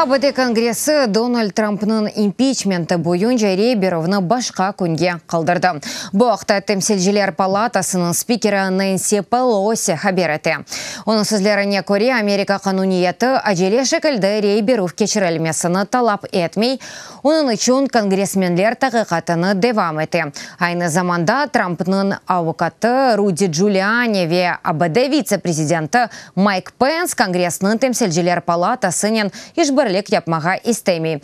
ABD Kongressi Donald Trampnıñ impiçmenti boyunca Reberovnı başqa künge qaldırdı. Bu aqta Temsilciler palatasınıñ spikeri Nensi Pelosi haber ete. Onıñ sözlerine köre, Amerika qanuniyeti acele şekilde Reberov keçirilmesini talap etmey, Onıñ içün kongressmenler taqiqatını devam ete. Aynı zamanda Trampnıñ avukatı Rudi Giuliani ve ABD vitse-prezidenti Mayk Pens Kongressniñ Temsilciler palatasınen işbirlik yapmağa istemey.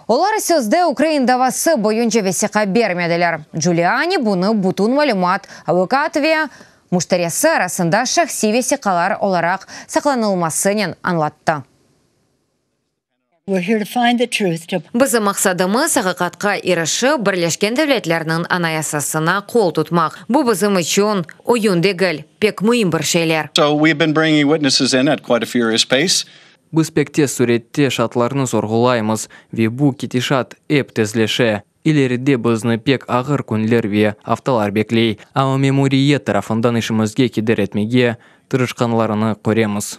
Olar sözde Ukrain davası boyunca vesiqa bermediler. Giuliani bunı bütün malümat, avukat ve müşterisi arasında şahsiy vesiqalar olaraq saqlanılmasınen añlattı. Bizim maqsadımız, aqiqatqa irişip, Birleşken Devletlerniñ Anayasasına qol tutmaq. Bu bizim içün oyun degil, pek müim bir şeyler. Biz pek tez sürette şaatlarnı sorğulaymız ve bu ketişat ep tezleşe. İleride bizni pek ağır künler ve aftalar bekley, amma memuriyet tarafından işimizge keder etmege tırışqanlarını köremiz.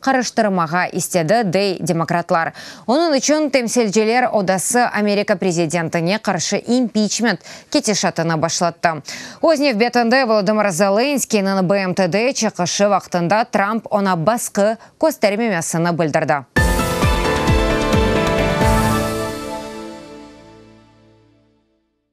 qarıştırmağa istedi, dey demokratlar. Onıñ içün Temsilciler Odası Amerika prezidentine qarşı impiçment ketişatını başlattı. Öz nevbetinde Volodımır Zelenskıynıñ BMTde çıqışı vaqtında Tramp oña basqı köstermemesini bildirdi.